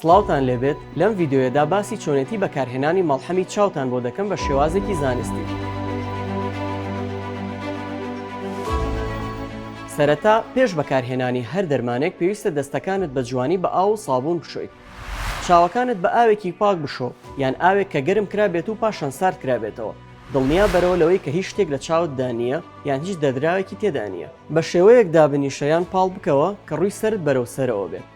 سڵاوتان لێبێت لەم ڤیدیۆیەدا باسی چۆنێتی بەکارهێنانی مەڵحەمی چاوتان بۆ دەکەم بە شێوازێکی زانستی. سەرەتا پێش بەکارهێنانی هەر دەرمانێک پێویستە دەستەکانت بە جوانی بە ئاو و سابوون بشۆیت. چاوەکانت بە ئاوێکی پاک بشۆ یان ئاوێک کە گەرم کرا بێت و پاشان سارد کرابێتەوە. دڵنیا بەرەوە لەوەی کە هیچ شتێک لە چاوت دا نییە یان هیچ دەدراوێکی تێدا نییە. بە شێوەیەک دابنیشە یان پاڵ بکەوە کە ڕووی سەرت بەرەو سەرەوە بێت.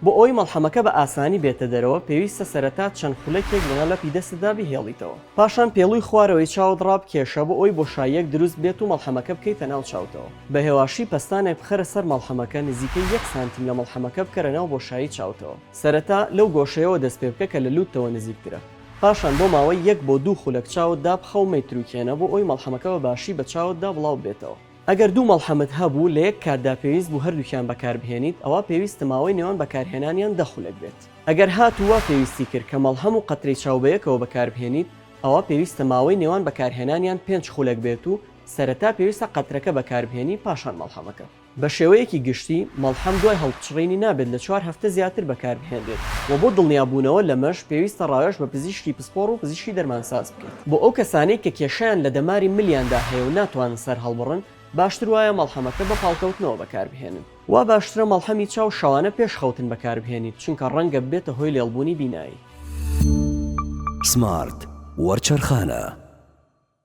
بۆ ئەوەی مەڵحەمەکە بە ئاسانی بێتە دەرەوە، پێویستە سەرەتا چەند خولەکێک لەناو لەپی دەستتدا بیهێڵیتەوە. پاشان پێڵوی خوارەوەی چاوت ڕابکێشە بۆ ئەوەی بۆشاییەک دروست بێت و مەڵحەمەکە بکەیتە ناو چاوتەوە. بە هێواشی پەستانێک بخەرە سەر مەڵحەمەکە، نزیکەی یەک سانتیم لە مەڵحەمەکە بکەرە ناو بۆشایی چاوتەوە. سەرەتا لەو گۆشەیەوە دەست پێ بکە کە لە لووتتەوە نزیکترە. پاشان بۆ ماوەی یەک بۆ دوو خولەک چاوت دابخە و مەیتروکێنە بۆ ئەوەی مەڵحەمەکە بە باشی بە چاوتدا بڵاو ببێتەوە. ئەگەر دوو مەڵحەمت هەبوو لە یەک کاتدا پێویست بوو هەردووکیان بەکاربهێنیت، ئەوا پێویستە ماوەی نێوان بەکارهێنانیان دە خولەک بێت. ئەگەر هاتوو وا پێویستی کرد کە مەڵحەم و قەترەی چاو بە یەکەوە بەکاربهێنیت، ئەوا پێویستە ماوەی نێوان بەکارهێنانیان پێنج خولەک بێت و سەرەتا پێویستە قەترەکە بەکاربهێنی پاشان مەڵحەمەکە. بە شێوەیەکی گشتی، مەڵحەم دوای هەڵپچڕینی نابێت لە چوار هەفتە زیاتر بەکاربهێنرێت و بۆ دڵنیابوونەوە لەمەش پێویستە ڕاوێژ بە پزیشکی پسپۆڕ و پزیشکی دەرمانساز کرد. بۆ ئەو کەسانەی کە کێشەیان لە دەماری ملیاندا هەیە و ناتوانن سەر هەڵبڕن، باشتر وایە مەڵحەمەکە بە پاڵکەوتنەوە بەکاربهێنن. وا باشترە مەڵحەمی چاو شەوانە پێش خەوتن بەکاربهێنیت، چونکە ڕەنگە ببێتە هۆی لێڵبوونی بینایی. سمارت وەرچەرخانە.